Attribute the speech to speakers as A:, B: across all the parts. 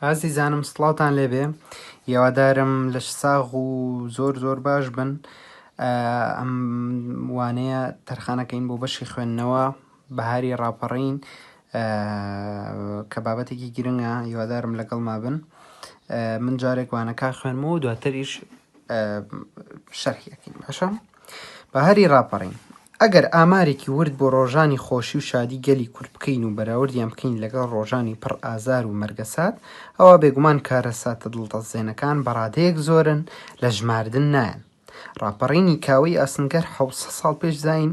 A: ئازیزانم سڵاوتان لێبێ یاوادارم لەش ساغ و زۆر زۆر باش بن ئەم وانەیە تەرخانەکەین بۆ بەشی خوێندنەوە بەهاری ڕاپەڕین کە بابەتێکی گرنگە یوادارم لەگەڵ ما بن من جارێک وانەکە خوێنمەوە دواتریش شەرحیەکەین باشە بەهاری ڕاپەڕین. ئەگەر ئامارێکی ورد بۆ ڕۆژانی خۆشی و شادی گەلی کورد بکەین و بەراوردیان بکەین لەگەڵ ڕۆژانی پڕ ئازار و مەرگەسات، ئەوا بێگومان کارەساتە دڵتەزێنەکان بە ڕادەیەک زۆرن لە ژماردن نایەن. ڕاپەڕینی کاوەی ئاسنگەر حەوت سەد ساڵ پێش زایین،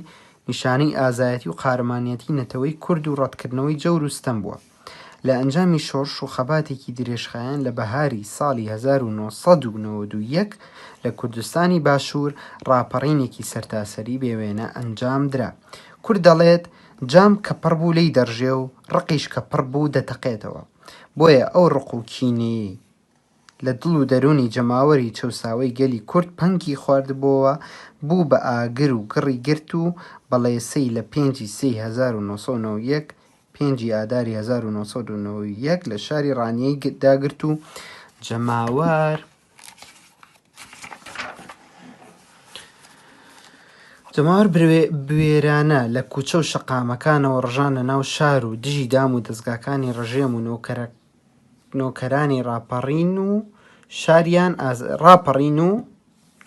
A: نیشانەی ئازایەتی و قارەمانیەتی نەتەوەی کورد و ڕەتکردنەوەی جەور و ستەم بووە. لە ئەنجامی شۆڕش و خەباتێکی درێژخایەن لە بەهاری ساڵی هەزار و نۆ سەد و نەوەد و یەک لە کوردستانی باشوور ڕاپەڕینێکی سەرتاسەری بێ وێنە ئەنجام درا. کورد دەڵێت، جام کە پڕ بوو لێی دەڕژێ و ڕقیش کە پڕ بوو دەتەقێتەوە. بۆیە ئەو ڕق و کینەیەی لە دڵ و دەروونی جەماوەری چەوساوەی گەلی کورد پەنگی خواردبۆوە، بوو بە ئاگر و گڕی گرت و بەڵێسەی لە پێنج ی سێی هەزار و نۆ سەد و نەوەد و یەک، پێنج ی ئاداری هەزار و نۆ سەد و نەوەد و یەک لە شاری ڕانیەی داگرت و جەماوەر بوێرانە لە کوچە و شەقامەکانەوە ڕژانە ناو شار و دژی دام و دەزگاکانی ڕژێم و نۆکەرە نۆکەرانی ڕاپەڕین و شاریان ئاز... ڕاپەڕین و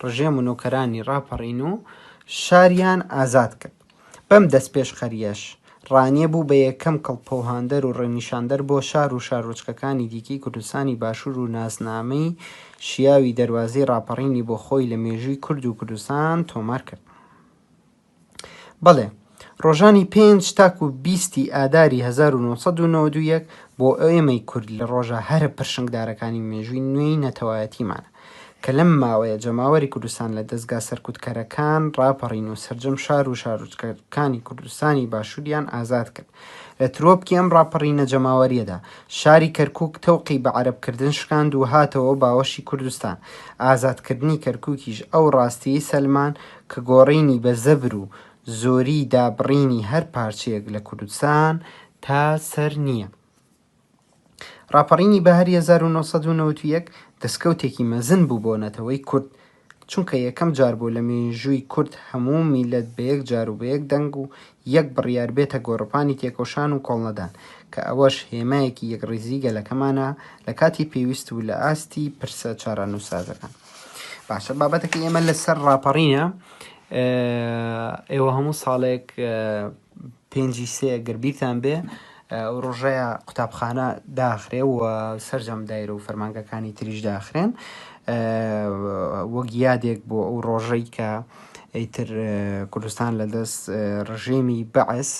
A: ڕژێم و نۆکەرانی ڕاپەڕین و شاریان ئازاد کرد بەم دەست پێشخەریەش ڕانیە بوو بە یەکەم کڵپەوهاندەر و ڕێنیشاندەر بۆ شار و شارۆچکەکانی دیکەی کوردستانی باشوور و ناسنامەی شیاوی دەروازەی ڕاپەڕینی بۆ خۆی لە مێژووی کورد و کوردستان تۆمار کرد. بەڵێ، ڕۆژانی پێنج تاکو بیستی ئاداری هەزار و نۆ سەد و نەوەد و یەک بۆ ئێمەی کورد لە ڕۆژە هەرە پرشنگدارەکانی مێژووی نوێی نەتەوایەتیمانە کە لەم ماوەیە جەماوەری کوردستان لە دەزگا سەرکوتکەرەکان ڕاپەڕین و سەرجەم شار و شارۆچکەکانی کوردستانی باشووریان ئازاد کرد. لە ترۆپکی ئەم ڕاپەڕینە جەماوەریەدا شاری کەرکووک تەوقی بە عەرەبکردن شکاند و هاتەوە باوەشی کوردستان. ئازادکردنی کەرکووکیش ئەو ڕاستیەی سەلماند کە گۆڕینی بە زەبر و زۆری دابڕینی هەر پارچەیەک لە کوردستان تا سەر نییە. ڕاپەڕینی بەهاری هەزار و نۆ سەد و نەوەد و یەک دەستکەوتێکی مەزن بوو بۆ نەتەوەی کورد، چونکە یەکەم جار بوو لە مێژووی کورد هەموو میللەت بە یەک جار و بە یەک دەنگ و یەک بڕیار بێتە گۆڕەپانی تێکۆشان و کۆڵنەدان، کە ئەوەش هێمایەکی یەکڕیزیی گەلەکەمانە لە کاتی پێویست و لە ئاستی پرسە چارەنووسسازەکان. باشە بابەتەکە ئێمە لەسەر ڕاپەڕینە ئێوە هەموو ساڵێک پێنجی سێ گەربیرتان بێ ڕۆژەیە قوتابخانە داخرێ و سرجەم دایرە و فەرمانگەکانی تریش داخرێن وەک یادێک بۆ ئەو ڕۆژەی کە ئەیتر کوردستان لە دەست ڕژێمی بەعس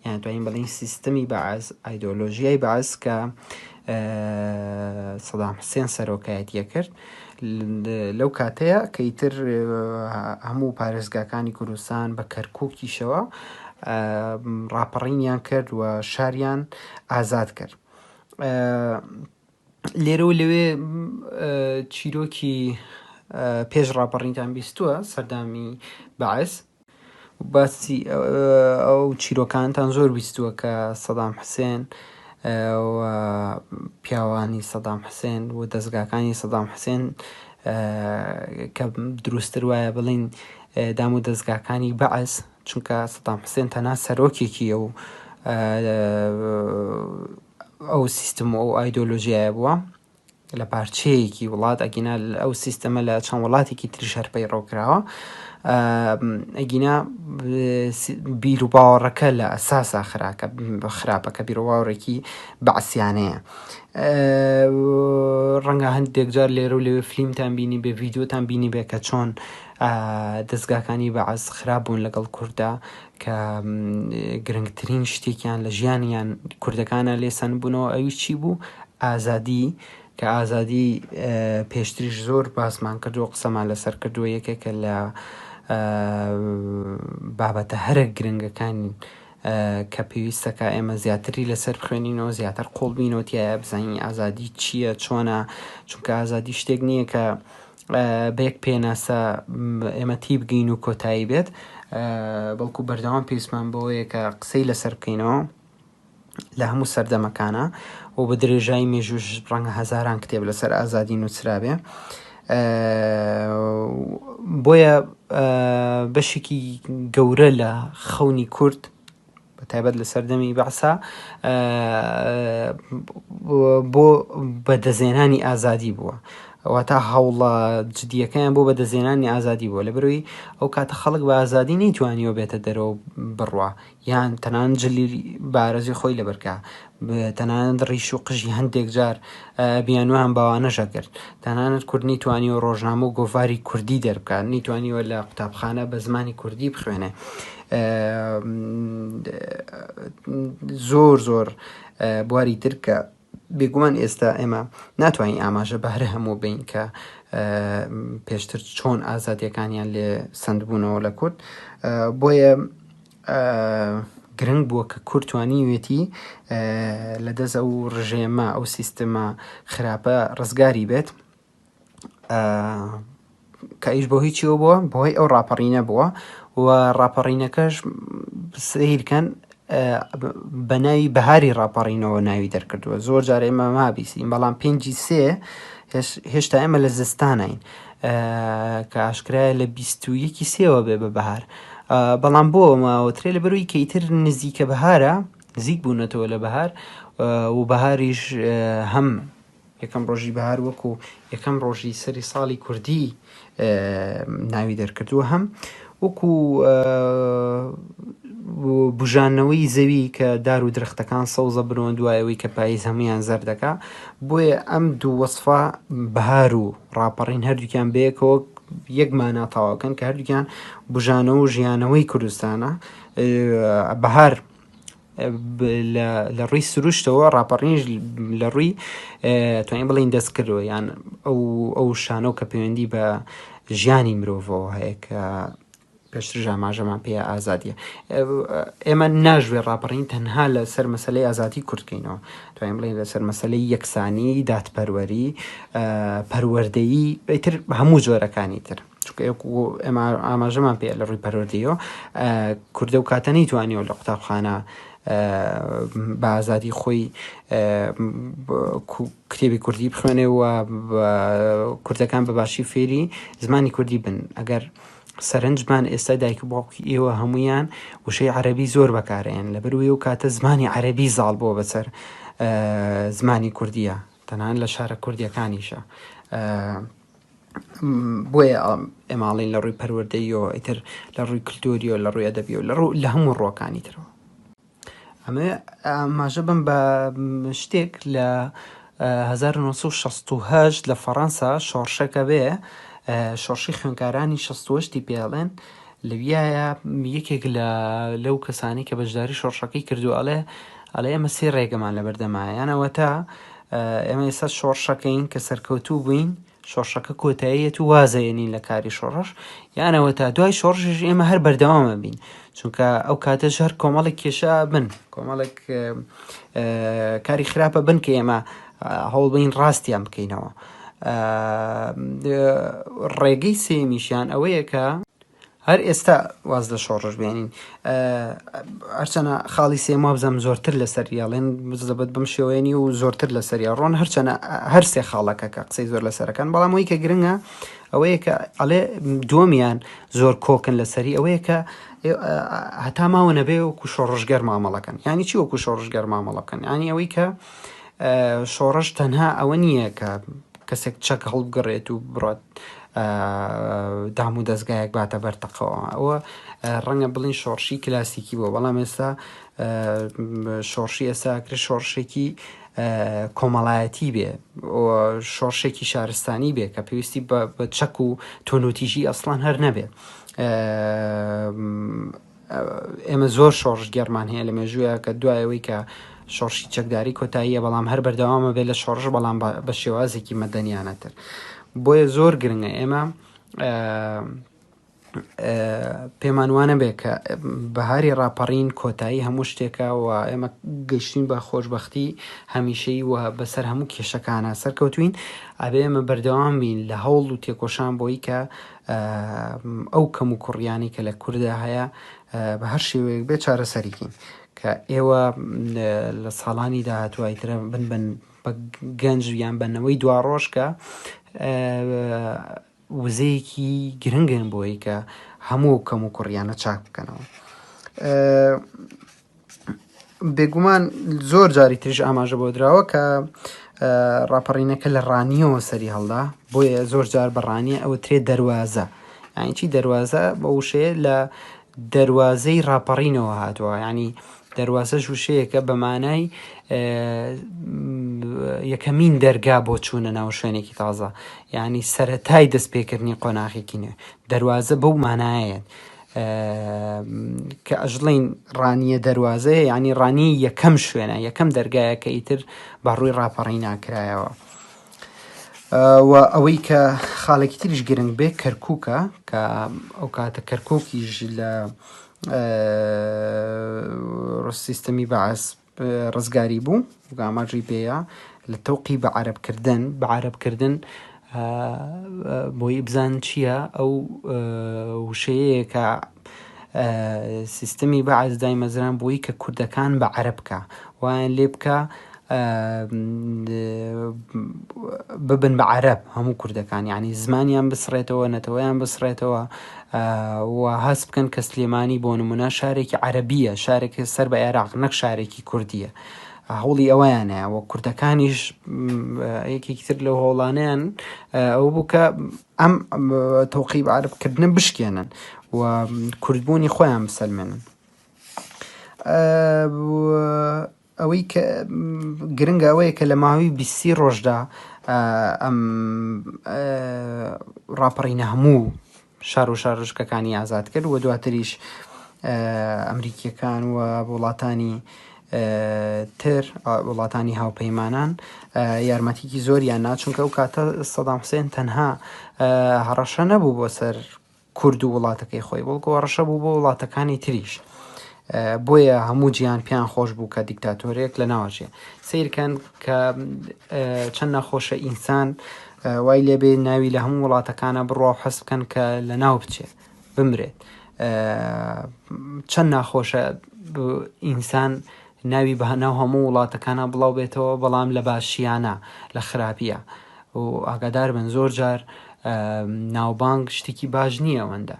A: یان توانین بڵین سیستمی بەعس ئایدۆلۆژیای بەعس کە سەدام حسێن سەرۆکایەتیە کرد لەو کاتەیە کە ئیتر هەموو پارێزگاکانی کوردستان بە کەرکووکیشەوە ڕاپەڕینیان کرد و شاریان ئازاد کرد لێرە و لەوێ چیرۆکی پێش ڕاپەڕینتان بیستووە سەردامی بەعس باسی ئەو چیرۆکانتان زۆر بیستووە کە سەدام حسێن پیاوانی سەدام حسێن و دەستگاکانی سەدام حسێن کە دروستتر وایە بڵین دام و دەستگاکانی بەعس چونکە سەدام حسێن تەنا سەرۆکێکی ئەو ئەو سیستم و ئەو ئایدۆلۆژیایە بووە لە پارچەیەکی وڵات ئەگینا ئەو سیستەمە لە چەند وڵاتێکی تریش هەر پەیڕەو کراوە ئەگینا بیر و باوەڕەکە لە ئەساسا خراکە خراپە کە بیرۆواوڕێکی بەعسیانەیە ڕەنگە هەندێک جار لێرە و لەوێ فلیمتان بینی بێ ڤیددیوتان بینی بێ کە چۆن دەستگاکانی بەعز خراپ بوون لەگەڵ کووردا کە گرنگترین شتێکیان لە ژیانیان کوردەکانە لێ سەندبوونەوە ئەویش چی بوو ئازادی کە ئازادی پێشتریش زۆر باسمان کردو قسەمان لەسەر کردووە یەکێکە لە بابەتە هەرە گرنگەکان کە پێویستەکە ئێمە زیاتری لەسەر بخوێنینەوە زیاتر قۆڵبینەوە تایە بزانین ئازادی چییە چۆنە چونکە ئازادی شتێک نییە کە بە یەک پێناسە ئێمە تیبگەین و کۆتایی بێت، بەڵکو بەردەوام پێویستمان بەوەیە کە قسەی لەسەر بکەینەوە لە هەموو سەردەمەکانا و بە درێژایی مێژووش ڕەنگە هەزاران کتێب لەسەر ئازادی نووسرابێ بۆیە بەشێکی گەورە لە خەونی کورد بە تایبەت لە سەردەمی بەعسا بۆ بەدەزێنانی ئازادی بووە واتا هەوڵە جدیەکەیان بۆ بەدەزێنانی ئازادی بووە لە بروی ئەو کاتە خەڵک بە ئازادی نەیتوانیەوە بێتە دەرەوە بڕوا یان تەنان جلی بارزی خۆی لەبەرکە تەنانەت ڕیش و قژی هەندێک جار بیانویان باوانەش ئەکرد. تەنانەت کورد نەیتوانیوە ڕۆژنامە و گۆڤاری کوردی دەربکات، نەیتوانیوە لە قوتابخانە بە زمانی کوردی بخوێنێ. زۆر زۆر بواری تر کە بێگومان ئێستا ئێمە ناتوانین ئاماژە بەهرە هەموو بین کە پێشتر چۆن ئازادیەکانیان لێ سندبوونەوە لە کورد بۆیە گرنگ بووە کە کورد توانیویەتی لە دەست ئەو ڕژێمە ئەو سیستمە خراپە ڕزگاری بێت کە ئیش بۆ هیچیەوە بووە بەهۆی ئەو ڕاپەڕینە بووە و ڕاپەڕینەکەش سیرکەن بە ناوی بەهاری ڕاپەڕینەوە ناوی دەرکردووە زۆر جارێ مەما بیسین بەڵام پێنجی سێ هێشتا ئێمە لە زستانین کە ئاشکرایە لە بیست و یەکی سێوە بێ بە بەهار بەڵام بۆ ماوەترێ لەبەروی کە ئیتر نزیکە بەهارە نزیک بوونەتەوە لە بەهار و بەهاریش هەم یەکەم ڕۆژی بەهار وەکو یەکەم ڕۆژی سەری ساڵی کوردی ناوی دەرکردووە هەم وەکو بژانەوەی زەوی کە دار و درختەکان سەوزە برۆن دوایەوەی کە پاییز هەمویان زەردەکە بۆیە ئەم دوو وەصفا بەهار و ڕاپەڕین هەردووکیان بەیەکەوە یەک مانا تەواوکەن کە هەردووکیان بژانەوە و ژیانەوەی کوردستانە بەهار لە ڕووی سروشتەوە ڕاپەڕینش لە ڕووی توانین بڵین دەست کردەوە یان ئەو ئەو شانۆ کە پەیوەندی بە ژیانی مرۆڤەوە هەیە کە پێشتریش ئاماژەمان پێیە ئازادییە. ئێمە ناشبێت ڕاپەڕین تەنها لەسەر مەسەلەی ئازادیی کورد بکەینەوە، دەتوانین بڵێین لەسەر مەسەلەی یەکسانیی، دادپەروەری، پەروەردەیی، ئیتر هەموو جۆرەکانی تر. چونکە وەکو ئێمە ئاماژەمان پێیە لە ڕووی پەروەردەییەوە کورد ئەو کاتە نەیتوانیوە لە قوتابخانە بە ئازادی خۆی کتێبی کوردی بخوێنێ و کوردەکان بەباشی فێری زمانی کوردی بن. ئەگەر سەرنجمان ئێستا دایک و باوکی ئێوە هەموویان وشەی عەرەبی زۆر بەکارەیەن لەبەروی و کاتە زمانی عەرەبی زاڵ بووە بەسەر زمانی کوردیە تەنان لە شارە کوردیەکانیشە بۆیە ئەماڵین لە ڕووی پەروەردەیەوە ئیتر لە ڕووی کللتوریەوە لە ڕووی ئەدەبیەوە لە ڕوو لە هەموو ڕۆکانی ترەوە ئەمەوێ ئاماژە بەم بە شتێک لە 1968 لە فەڕەنسا شۆڕشەکە بێ شۆڕشی خوێنکارانی 68ی پێڵێن لەویایە یەکێک لە لەو کەسانی کە بەشداری شۆڕشەکەی کردو ئەڵێ ئەڵێ ئەمە سێ ڕێگەمان لە بەردەمایانەوە تا ئێمە ئێستا شۆڕشەکەین کە سەرکەوتوو بووین شۆڕشەکە کۆتایی ئەتوو وازە ێنین لە کاری شۆڕش یانەوە تا دوای شۆڕژش ئێمە هەر بەردەوامە بین چونکە ئەو کاتە ژەر کۆمەڵێک کێشە بن کۆمەڵێک کاری خراپە بن کە ئێمە هەوڵ بین ڕاستیان بکەینەوە ڕێگەی سێمیشیان ئەوەیە کە هەر ئێستا واز لە شۆڕش بێنین هەرچەنە خاڵی سێم وابزەم زۆرتر لەسەر یاڵێن بزەبەت بم شێوێنی و زۆرتر لە سەریا ڕۆن هەرچەنە هەر سێ خاڵەکە کە قسەی زۆر لەسەرەکان بەڵام ئەوی کە گرنگە ئەوەیە کە ئەڵێ دووەمیان زۆر کۆکن لەسەری ئەوەیە کە هەتا ماوە نەبێ وکو شۆڕژگەر مامەڵەکەن ینی چی وەکو شۆڕژگەر مامەڵەکەن ینی ئەوەی کە شۆڕش تەنها ئەوە نییە کە کەسێک چەک هەڵبگڕێت و بڕات دام و دەستگایەک باتە بەر تەقەوە ئەوە ڕەنگە بڵین شۆڕشی کلاسیکی بۆ بەڵام ئێستا شۆڕشی ئێساکرێ شۆڕشێکی کۆمەڵایەتی بێ شۆڕشێکی شارستانی بێ کە پێویستی بە چەک و تۆنوتیژی ئەسڵان هەر نەبێ ئێمە زۆر شۆڕشگێڕمان هەیە لە مێژوویە کە دوایەوەی کە شۆڕشی چەکداری کۆتاییە بەڵام هەر بەردەوامە بێت لە شۆڕش بەڵام بە شێوازێکی مەدەنیانەتر بۆیە زۆر گرنگە ئێمە پێمان وانە بێ کە بەهاری ڕاپەڕین کۆتایی هەموو شتێکە و ئێمە گەشتین بە خۆشببختی هەمیشەی و بەسەر هەموو کێشەکانە سەرکەوتوین ئەبێ ئێمە بەردەوام بین لە هەوڵ و تێکۆشان بۆی کە ئەو کەم و کوڕیانەی کە لە کوردا هەیە بە هەر شێوەیەک بێ چارەسەریکەین کە ئێوە لە ساڵانی داهاتوای ترە بن بن بە گەنج یان بەنەوەی دوا ڕۆژ کە وزەیەکی گرنگن بۆی کە هەموو کەم و کوڕیانە چاک بکەنەوە بێگومان زۆر جاری تریش ئاماژە بۆ دراوە کە ڕاپەڕینەکە لە ڕانیەوە سەری هەڵدا بۆیە زۆر جار بە ڕانیە ئەوە ترێ دەواازە ئاینچی دەواازە بە وشەیە لە دەواازەی ڕاپەڕینەوە هاتووە ینی دەواازە ژوشەیەکە بەمانای یەکەمین دەرگا بۆ چوونە ناو شوێنێکی تازە ینی سەتای دەستپێکردنی قۆناغێکی نوێ دەواازە بەو مانایەت کە ئەژڵێین ڕانیە دەروازەیە یعنی ڕانی یەکەم شوێنە یەکەم دەرگایە کە ئیتر بە ڕووی ڕاپەڕی ناکرایەوە و ئەوەی کە خاڵێکی تریش گرنگ بێ کەرکووکە کە ئەو کاتە کەرکووکیش لە سیستەمی بەعس ڕزگاری بوو وەک ئاماژەی پێیە لە تەوقی بە عەرەب کردن بە عەرەب کردن بۆی بزان چییە ئەو وشەیە کە سیستمی بەعس دایمەزران بۆی کە کوردەکان بە عەرەب بکە وایان لێ بکە ببن بە عەرەب هەموو کوردەکان یعنی زمانیان بسڕێتەوە نەتەوەیان بسڕێتەوە و هەست بکەن کە سلێمانی بۆ نمونە شارێکی عەرەبیە شارێک سەر بە عێراق نەک شارێکی کوردیە هەوڵی ئەویانە و کوردەکانیش یەکێکی تر لەو هەوڵانیان ئەو بوو کە ئەم تۆقی عربکردن بشکێنن و کوردبوونی خۆیان بسەلمێنن ئەوەی کە گرنگە ئەوەیە کە لە ماوەی بیست سی ڕۆژدا ئەم ڕاپەڕینە هەموو شار و شارۆچکەکانی ئازاد کرد و دواتریش ئەمریکیەکان و وڵاتانی تر وڵاتانی هاوپەیمانان یارمەتیکی زۆریان ناچونکە ئەو کاتە سەدام حسێن تەنها هەڕەشە نەبوو بۆ سەر کورد و وڵاتەکەی خۆی بەڵکو هەڕەشە بوو بۆ وڵاتەکانی تریش بۆیە هەموو جیان پێیان خۆش بوو کە دیکتاتۆرێک لە ناوچێ سیرکەن کە چەند نەخۆشە ئینسان وای لێبێ ناوی لە هەموو وڵاتەکانە بڕوا و حەس بکەن کە لە ناو بچێت بمرێت چەند ناخۆشە ئینسان ناوی بە ناو هەموو وڵاتەکانا بڵاو بێتەوە بەڵام لە باشییا نا لە خراپییا و ئاگادار بن زۆر جار ناوبانگ شتێکی باش نییە ئەوەندە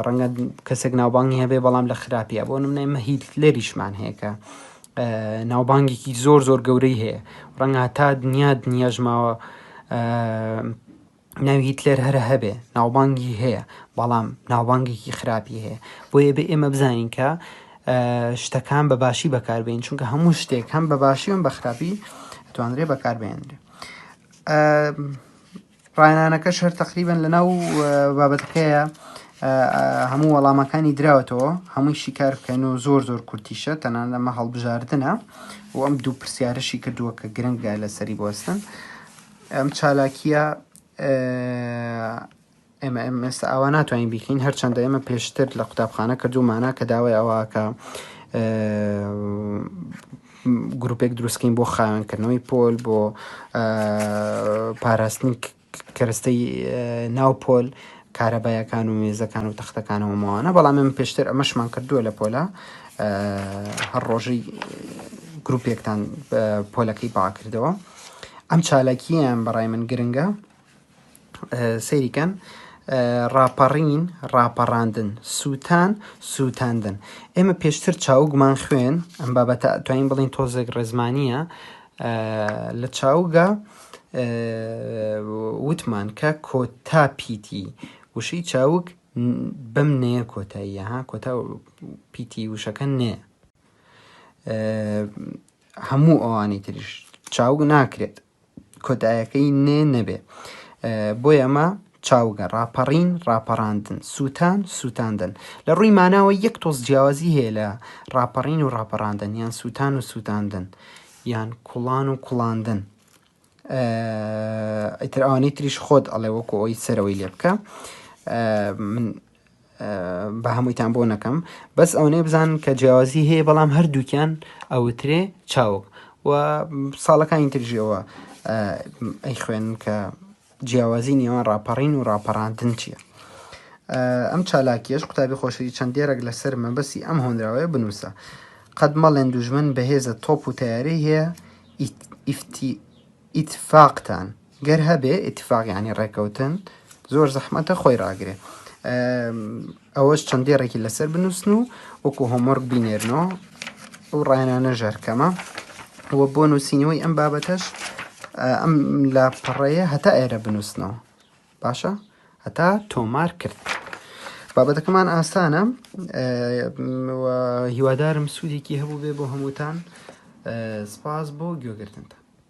A: ڕەنگە کەسێک ناوبانگی هەبێ بەڵام لە خراپیە بۆ نمنای مەهیت لەریشمان هەیە کە ناوبانگێکی زۆر زۆر گەورەی هەیە ڕەنگە تا دنیا دنیاژماوە ناوی هیتلەر هەر هەبێ ناوبانگی هەیە بەڵام ناوبانگێکی خراپی هەیە بۆیە بێ ئێمە بزانین کە شتەکان بە باشی بەکاربین چونکە هەموو شتێک هەم بە باشی وم بە خراپی توانرێ بەکاربێنرێ ڕایانەکە شەر تقریبن لە ناو بابەتەکەیە هەموو وەڵامەکانی دراوەتەوە هەمووی شیکار بکەن و زۆر زۆر کورتیشە تەنان لەمە هەڵبژاردنە و ئەم دوو پرسیارشی کردووە کە گرنگە لەسەری بۆستن ئەم چالاکیە ئێمە ئەم ئێستا ئاوا ناتوانین بیکەین هەرچەندە ئێمە پێشتر لە قوتابخانە کردومانە کە داوای ئەوەکە گروپێک دروستکەین بۆ خاوێنکردنەوەی پۆل بۆ پاراستنی کەرستەی ناو پۆل کارەبایەکان و مێزەکان و تەختەکانەوە ماوانە بەڵام من پێشتر ئەمەشمان کردووە لە پۆلا هەر ڕۆژی گروپێکتان پۆلەکەی باکردەوە ئەم چالاکییەیان بەڕای من گرنگە سەیری کەن ڕاپەڕین ڕاپەڕاندن سووتان سووتاندن ئێمە پێشتر چاوگمان خوێن ئەم بابەتە توانین بڵین تۆزێک ڕێزمانە لە چاوگە وتمان کە کۆتا پیتی وشەی چاوک بەم نەیە کۆتاییە ها کۆتا پیتی وشەکە نێ هەموو ئەوانی تریش چاوگ ناکرێت کۆتایەکەی نێ نەبێ بۆی ئەمە چاوگە ڕاپەڕین ڕاپەڕاندن سووتان سووتاندن لە ڕووی ماناوە یەک تۆز جیاوازی هەیە لە ڕاپەڕین و ڕاپەڕاندن یان سووتان و سووتاندن یان کوڵان و کوڵاندن ئیتر ئەوانەی تریش خۆت ئەڵێ وەکو ئەوی سەرەوەی لێ بکە من بە هەموویتان بۆ نەکەم بەس ئەوەنەی بزان کە جیاوازی هەیە بەڵام هەردووکیان ئەوترێ چاوک و ساڵەکانی ترژیەوە ئەی خوێن کە جیاوازی نێوان ڕاپەڕین و ڕاپەڕاندن چییە؟ ئەم چالاکییەش قوتابی خۆشەوی چەند دێڕێک لەسەر مەبەستی ئەم هۆنراوەیە بنووسە. قەت مەڵێن دوژمن بەهێزە تۆپ و تەیارەی هەیە، ئیتفاقتان گەر هەبێ، ئیتفاق یانی ڕێکەوتن، زۆر زەحمەتە خۆی ڕاگرێ. ئەوەش چەند دێڕێکی لەسەر بنووسن و وەکو هۆمۆرک بینێرنەوە ئەو ڕایانانە ژەرکەمە وە بۆ نووسینەوەی ئەم بابەتەش ئەم لە پەڕەیە هەتا ئێرە بنووسنەوە باشە هەتا تۆمار کرد بابەتەکەمان ئاسانە هیوادارم سوودێکی هەبوو بێ بۆ هەمووتان سپاس بۆ گوێگرتنتان